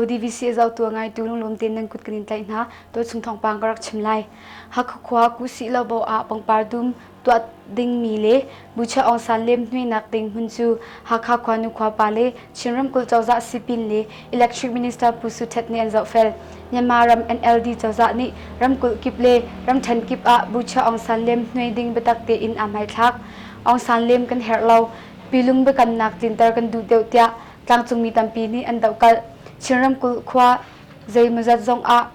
DVC azautu ngaitu lunglawm tein nan kut kan in tlaih hna. Tuachung thawngpang ka rak chim lai. Hakha khua Kusi Lobo ah pangpar dum tuah dingmi le Bucha Aung San lemhnuainak ding hmun cu Hakha khuanu khuapa le Chin ramkulh cozah sipin le Electric Minister Pu Su Htet nih an zohfel. Myanmar ram NLD cozah nih ramkulh kip le ramthen kip ah Bucha Aung San lemhnuai ding biatak tein aa hmaithlak. Aung San lem kan herh lo. Pilung biakamnak tlinter kan duh deuh tiah tlangcungmi tampi nih an dohkalh. Chin ramkulh khua zeimawzat zong ah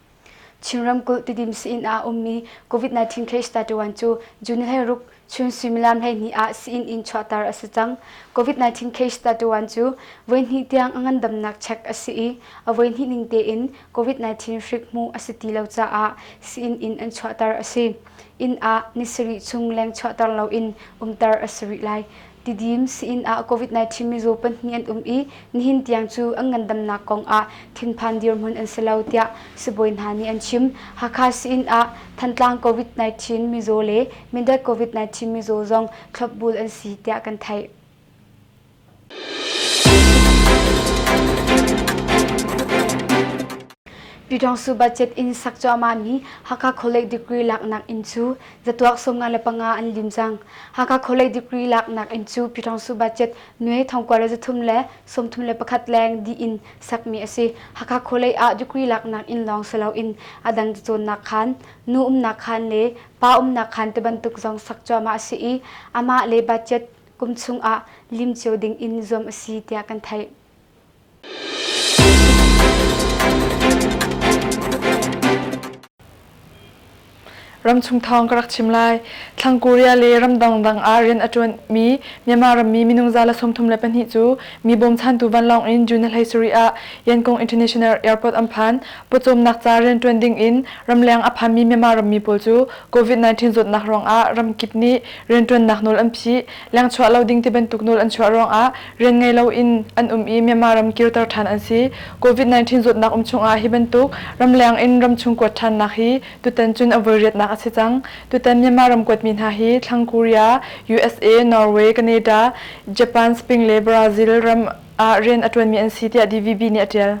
Chin ramkulh Tidim Sain ah a ummi COVID-19 case statuan cu June hlei ruk chun suimilam hleihnih ah Sain in chuahter a si cang. COVID-19 case statuan cu voihnih tiang a ngandamnak check a si i a voihnih ning tein COVID-19 hrik hmuh a si ti lo caah Sain in an chuahter a si. Inn ah ni sarih chung leng chuahter loin umter a si rih lai. Tidim si-inn ah COVID-19 mizaw pahnih an um i nihin tiang cu an ngandamnak kong ah thinphan dirhmun an si lo, tiah sibawi hna nih an chim. Hakha si-inn ah Thantlang COVID-19 mizaw le Mindat COVID-19 mizaw zong thlopbul an si, tiah kan theih. Pyidawngsu budget in sak cuahmahmi Hakha College degree laknak inn cu Zatuak sawmnga le panga an lim cang. Hakha College degree laknak in cu Pyithang Su budget nue thongkua le zathum le sawmthum le pakhat leng di in sakmi a si. Hakha College ah degree laknak in lawng si loin a dang cacawnnak khan, nu umnak khan le pa umnak khan te bantuk zong sak cuahmah a si i amah le budget kum chung ah lim cio ding in zuam a si tiah kan theih. Ramchung thawng ka rak chim lai. Thlang Korea le ramdang dang ah rian a ṭuanmi Myanmar rammi minung za la sawmthum le pahnih cu mi bawmchantu vanlawng in June hlei sarih ah Yangon International Airport an phan. Pawcawmnak ca rian ṭuan ding in ramleng a phanmi Myanmar rammi pawl cu COVID-19 zawtnak ruangah ramkip nih rianṭuannak nawl an phih, lengchuah lo ding ti bantuk nawl an chuah ruangah rian ngei loin an um i Myanmar ram kirter ṭhan an si. Covid-19 zawtnak um chungah hi bantuk ramleng in ramchung kuat ṭhannak hi tutan cun a voiriatnak a si cang. Tutan Myanmar ram kuatmi hna hi thlang Korea, usa, Norway, Canada, Japan, Spain le Brazil ram ah rian a ṭuanmi an si tiah DVB nih a ṭial.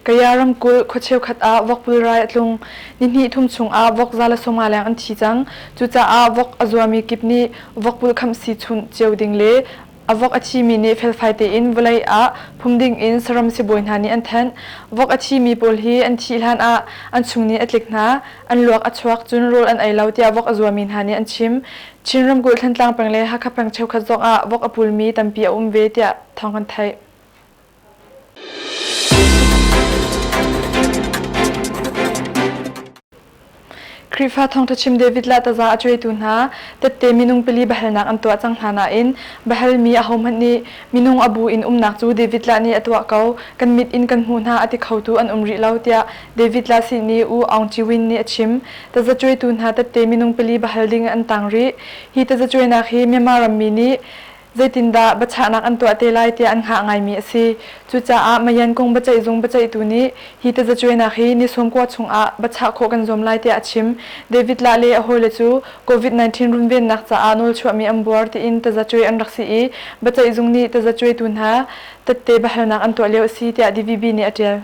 Kaya ramkulh khua cheukhat ah vok pulrai a tlung. Nihnih thum chungah vok za le sawma leng an thi cang. Cucaah vok a zuami kip nih vok pulkhamh si chunh cio ding le a vok a thimi nih felfai tein vawlei ah phum ding in saram sibawi hna nih an thanh. Vok a thimi pawl hi an thih hlanah an chung nih a tlik hna, an luak a chuak cun rawl an ei lo tiah vok a zuami hna nih an chim. Chin ramkulh Thantlang peng le Hakha peng cheukhat zongah vok a pulmi tampi a um ve tiah thawng kan theih. Khrihfa thawngṭhachim David le taza a cuaitu hna tette minung pili biahalnak an tuah cang hna nain biahalmi ahohmanh nih minung a bu in umnak cu David le nih a tuah ko kan mit in kan hmuh hna a ti khotu an um rih lo tiah David le sin i U Aung Chiwin nih a chim. Taza cuaitu hna tette minung pili biahal ding in an tang rih. Hi tazacuainak hi Myanmar rammi nih Zeitindah biachahnak an tuah te lai tiah an hngah ngaimi a si. Cucaah Mayan kong biaceihzung biaceihtu nih hi tazacuainak hi ni sawm kua chungah biachah khawh kan zuam lai tiah a chim. David Lahle a hawile cu Covid-19 runvennak caah nawlchuahmi an buar tiin tazacuai an rak si i biaceihzung nih tazacuaitu hna tette biahalnak an tuah lio a si tiah DVB nih a ṭial.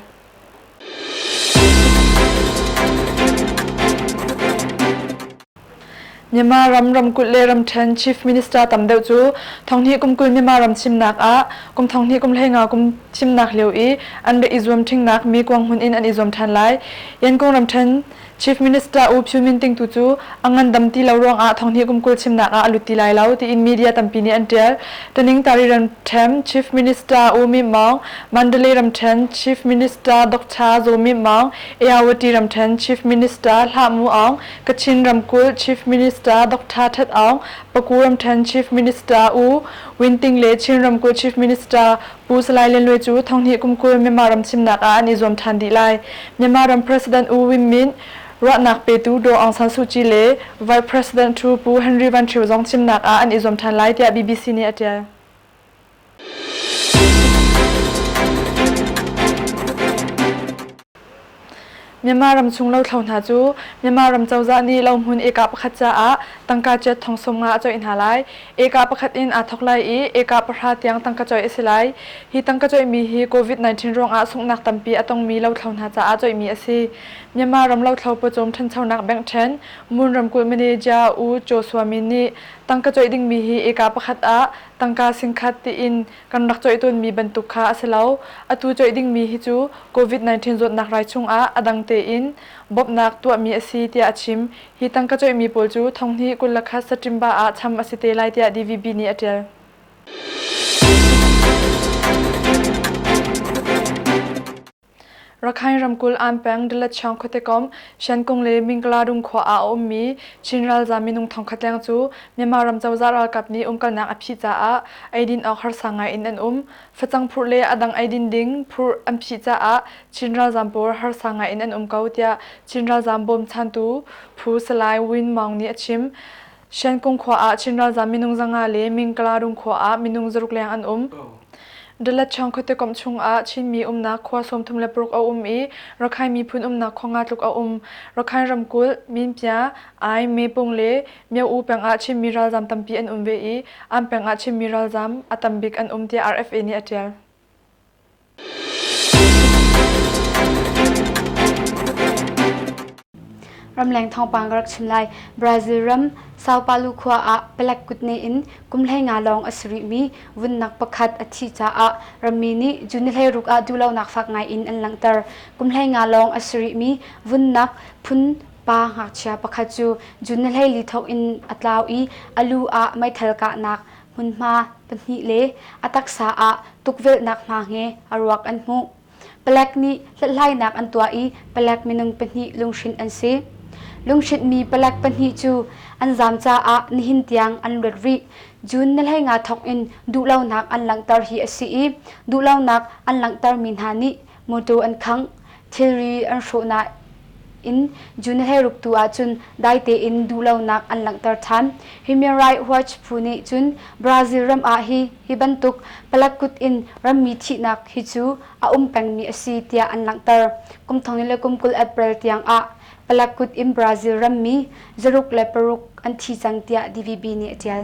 Myanmar ram ramkulh le ramṭhen Chief Minister tam deuh cu thonghnih kum kul Myanmar ram chimnak ah kum thonghnih kum hleinga kum chimnak lio i an rak i zuam ṭhingnak mi kuang hmun in an i zuam ṭhan lai. Yangon ramṭhen Chief Minister U Pyu Min Ting tu cu a ngandam ti lo ruangah Thonghni kum kul chimnak ah a lut ti lai lo, tiin media tampi nih an ṭial. Taningtari ramṭhen Chief Minister U Myint Maung, Mandalay ramṭhen Chief Minister Doctor Zaw Myint Maung, Eyawati ramṭhen Chief Minister Hla Mu Aung, Kachin ramkulh Chief Minister Doctor Htet Aung, Paku ramṭhen Chief Minister U Win Ting le Chin ramkulh Chief Minister Pu Salai Lenwe cu thanghnih kum kul Myanmar ram chimnak ah an i zuam ṭhan dih lai. Myanmar ram President U Win Myint, ruahnak petu Daw Aung San Suu Kyi le Vice President Ṭhu Pu Henry Van Ṭhio zong chimnak ah an i zuam ṭhan lai tiah bbc nih a ṭial. Myanmar ramchung lothlo hna cu Myanmar ram cozah nih lohmun eka pakhat caah tangka ciat thong sung nga a coih hna lai. Eka pakhat in aa thawk lai i eka pahra tiang tangka coih a si lai. Hi tangka coihmi hi COVID-19 ruangah sunghnak tampi a tongmi lothlo hna caah coihmi a si. Myanmar ram lothlo pawcawm ṭhanchonak bank ṭhen Moon ramkulh manager U Cho Sua Min nih tangka coih dingmi hi eka pakhat ah tangka singkhat tiin Kan rak coih tawnmi bantuk kha a si lo. Atu coih dingmi hi cu Covid-19 zawtnak rai chungah a dang tein bawmhnak tuahmi a si tiah a chim. Hi tangka coihmi pawl cu thonghnih kul le khat saṭimba ah cham a si te lai tiah DVB nih a ṭial. Rakhine ramkulh Anpeng Dalatchang khuatekom Shankung le Mingkladung khua ah a ummi Chin ralzam minung thongkhat leng cu Myanmar ram cozah ralkap nih umkalnak a phih caah eidin awk harsa ngai in an um. Facang phurh le a dang eidin ding phurh an phih caah Chin ralzam pawl harsa ngai in an um ko tiah Chin ralzam bawmchantu phu Salai Win Maung nih a chim. Shankung khua ah Chin ralzam minung zanga le Mingkalarum khua ah minung zaruk leng an um. Dalatchang khuate kom chung ah Chinmi umnak khua sawmthum le paruk a um i Rakhine miphun umnak khua nga tluk a um. Rakhine ramkulh, Minpya, Ai, Mepung le Myo-u peng ah Chinmi ralzam tampi an um ve i an peng ah Chinmi ralzam a tambik an um tiah RFA nih a tial. Ramleng thawngpang ka rak chim lai. Brazil ram Sao Paulo khua ah palek kut ne in kumhlei nga lawng a si rihmi vunnak pakhat a thih caah rammi nih June hleiruk ah duhlonak fak ngai in an langhter. Kumhlei nga lawng a si rihmi vunnak phun pa ngakchia pakhat cu June hleili thawk in a tlau i a lu ah meithal kahnak hmunhma pahnih le a taksa ah tukvelhnak hna he a ruak an hmuh. Palek nih hlathlainak an tuah i palek minung pahnih lunghrinh an si. Lunghrintmi palek pahnih cu an zaam caah nihin tiang an luat rih. June na hleinga thawk in duhlonak an langhter hi a si i duhlonak an langhtermi hna nih Motor an khangh, thilri an hrawh nain June he ruktu ahcun dai tein duhlonak an langhter ṭhan. Human Rights Watch phu nih cun Brazil ram ah hi hi bantuk palak kut in rammi thihnak hi cu a um pengmi a si tiah an langhter. Kum thong in le kum kul April tiang ah palak kut in Brazil rammi zaruk le paruk an thi cang tiah DVB nih a ṭial.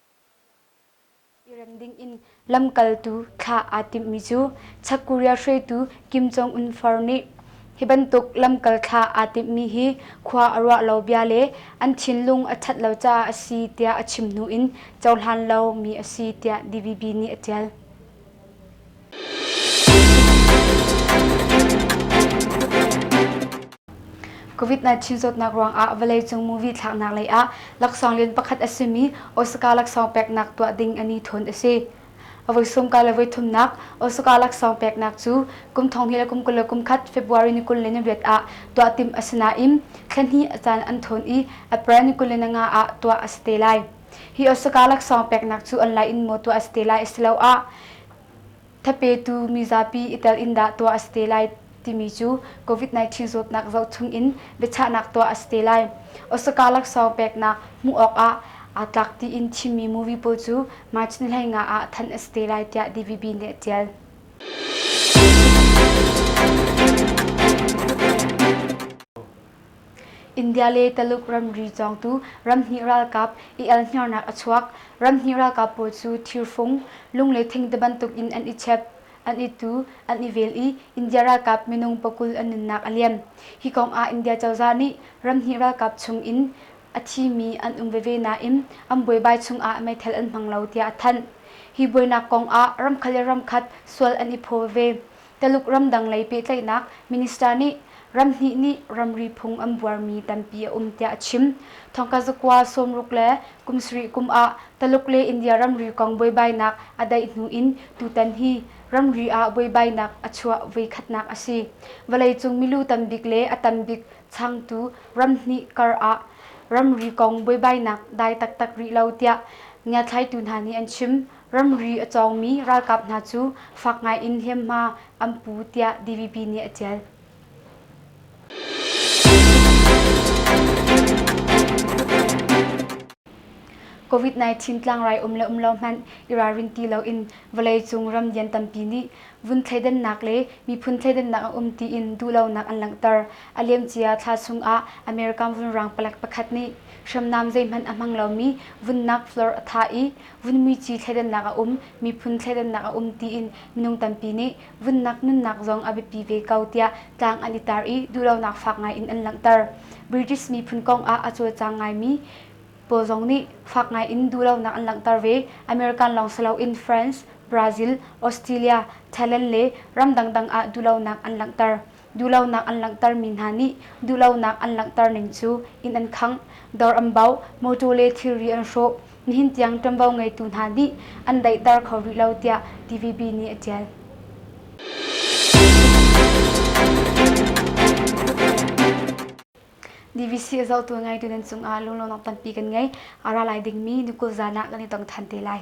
I rem dingin lamkaltu thla aa timhmi cu Sakuriya hruaitu Kim Jong-un far nih hi bantuk lamkal thla aa timhmi hi khua a ruah lo bia le an thinlung a ṭhat lo caah a si tiah a chim hnu in cohlan lomi a si tiah DVB nih a ṭial. Covid-19 zawtnak ruangah vawleicung movie thlaknak lei ah laksawng lian pakhat a simi Osaka laksawng peknak tuah ding an i thawn a si. A voi sawmka le voi thumnak Osaka laksawng peknak cu kum thong hi le kum kul le kum khat February ni kul le ni riat ah tuah tim a si nain thla hnih a caan an thawn i April ni kul le ni nga ah tuah a si te lai. Hi Osaka laksawng peknak cu an lai in maw tuah a si te lai asiloah thapetu mizapi i tel in dah tuah a si te lai timi cu COVID-19 zawtnak zohchung in biachahnak tuah a si te lai. Osaka laksawng peknak hmuh awkah aa tlak tiin thimmi movie pawl cu March ni hlei nga ah thanh a si te lai tiah DVB nih a ṭial. India le Taluk ramri cawngtu ramhnih ralkap i elhniarnak a chuak. Ramhnih ralkap pawl cu thirfung, lung le thingti bantuk in an i chep, an i tu, an i vel i India ralkap minung pakul an nunnak a liam. Hi kong ah India cozah nih ramhnih ralkap chung in a thimi an um veve nain an buaibai chung ah meithal an hmang lo tiah a thanh. Hi buainak kong ah ramkhat le ramkhat sual an i phaw veve. Taluk ramdang lei pehtlaihnak minister nih ramhnih nih ramri phung an buarmi tampi a um tiah a chim. Thawngka zakua sawmruk le kum sarih kum ah Taluk le India ramri kong buaibainak a daih hnu in tutan hi ramri ah buaibainak a chuah voikhatnak a si. Vawleicung milu tambik le a tambik changtu ramhnih kar ah ramri kong buaibainak dai taktak rih lo tiah ngiathlaitu hna nih an chim. Ramri a cawngmi ralkap hna cu fak ngaiin hliamhma an pu tiah DVP nih a ṭial. COVID-19 tlangrai um le um lo hmanh i ralrin ti loin vawleicung ram lian tampi nih vun thleidannak le miphun thleidannak a um tiin duhlonak an langhter. A liamcia thla chungah American vunrang palek pakhat nih hriamnam zeihmanh a hmang lomi vunnak floor a thah i vun muici thleidannak a um, miphun thleidannak a um tiin minung tampi nih vunnak nunnak zong a biapi ve ko tiah tlang an i tar i duhlonak fak ngai in an langhter. British miphun kong ah a cawlcang ngaimi pawl zong nih fak ngai in duhlonak an langhter ve. American lawng si loin France, Brazil, Australia, Thailand le ram dangdang ah duhlonak an langhter. duhlonak an langhtermi hna nih duhlonak an langhterning cu inn an khangh, dawr an bauh, mawṭaw le thilri an hrawh, nihin tiang ṭuanvo ngeitu hna nih an daihter kho rih lo tiah TVB nih a ṭial. DVC a zohtu ngeitu nan cungah lunglawmnak tampi kan ngei. A ra lai dingmi nukulh zan ah kan i tong ṭhan te lai.